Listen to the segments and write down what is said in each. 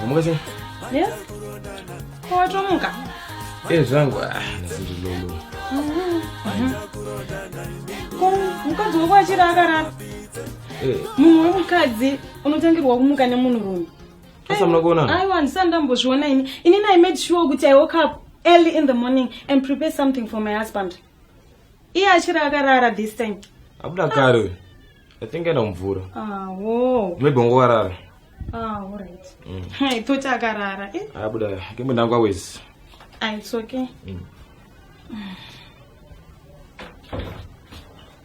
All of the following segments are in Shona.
Wamuka chini? Yes. Ko watomuka? Eh zvangu ah ndiri lolo. Mhm. Ko mukadzi wako achiri akarara? Eh. Munhu wemukadzi unotangirwa kumuka nemunhu rume. Asa mna kuona? Aiwa ndisani ndambozviona ini. Ini I made sure kuti I woke up early in the morning and prepare something for my husband. iye achiri akarara this time abuda kare uyu i think enda mvura awo maybe wangovarara aorit mm. toti akarara eh? abuda kembe ndangu awezi ah, it's okay mm.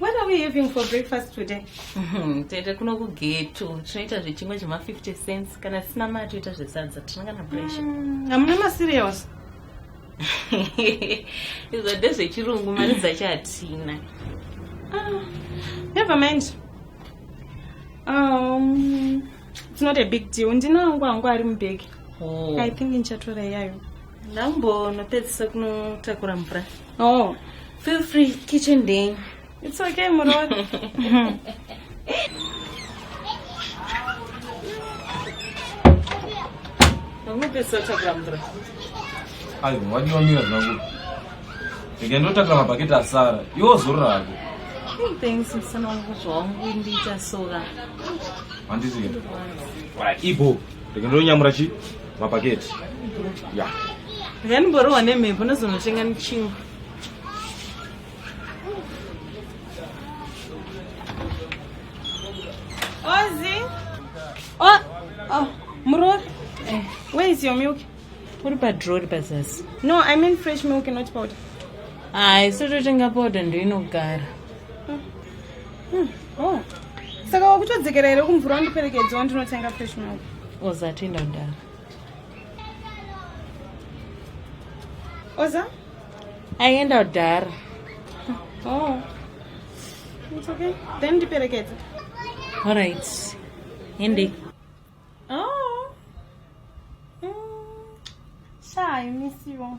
What are we having for breakfast today? Mhm, tete kuno kugeto tinoita zvechimwe zvema 50 cents kana tisina mari toita zvesadza tinenge na pressure mm, hamuna macereals izvo ndezvechirungu mari dzacho hatina ah, never mind um, it's not a big deal ndinangu angu ari mubhegi oh. i think ndichatora iyayo ndambonopedzisa kunotakura mvura oh Feel free, kitchen day. It's okay, Murod. ayo wadiwa mira zvangu ndinge ndotakira mabhaketi asara iwo zuru rako thanks musana wangu zvawangu ndiita sora handiti ibo ndinge ndonyamura chi mabhaketi ya ndinge ndimborohwa nemhepo nozonochenga nichinga Ozi. Oh, oh, Muror. Eh, where is your milk? What about draw pazasi? No, I mean fresh milk and not powder. Ah, it's not a powder ndo inogara. Hmm. Hmm. Oh. Saka wakutodzekera here kumvura wandiperekedza wandinotenga fresh milk. Oza tinda ndara. Oza? aienda kudhara oh. It's okay. Then ndiperekedze. All right. Hindi. Oh. Mm. Sha, I miss you.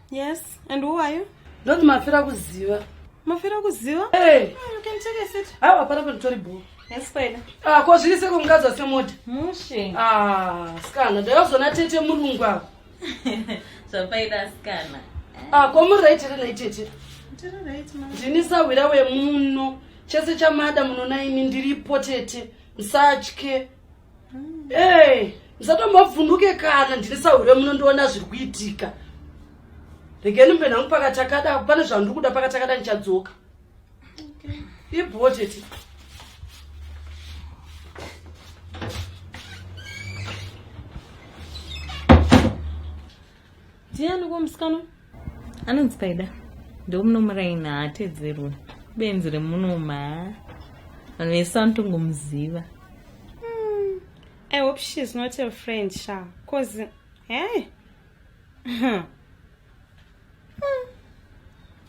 Yes, and who are you? Ndoti mafira kuziva. Mafira kuziva? Hey. Mm, you can take a seat. Hayi wapara kuti tori bho. Yes, kwena. Ah, ko zviri seko mukadzi wase mota. Mushe. Ah, skana. Ndayozona tete murungu apo. Zvapaida skana. Ah, ko muri right here nayi tete? Tiri right ma. Ndini sahwira wemuno. Chese chamada munona imi ndiripo tete. Msatye. mm. hey, musatombobvunduke kana ndine sahure munondiona zviri kuitika regeni mbe nangu pakatakada pane zvandiri kuda pakatakada ndichadzoka okay. ibhoteti ndiani ko musikana anonzi paida ndomunomuraini haatedzerwe benzi remunoma vanhu vese vanotongomuziva hmm, i hope she is not your friend sha cause hey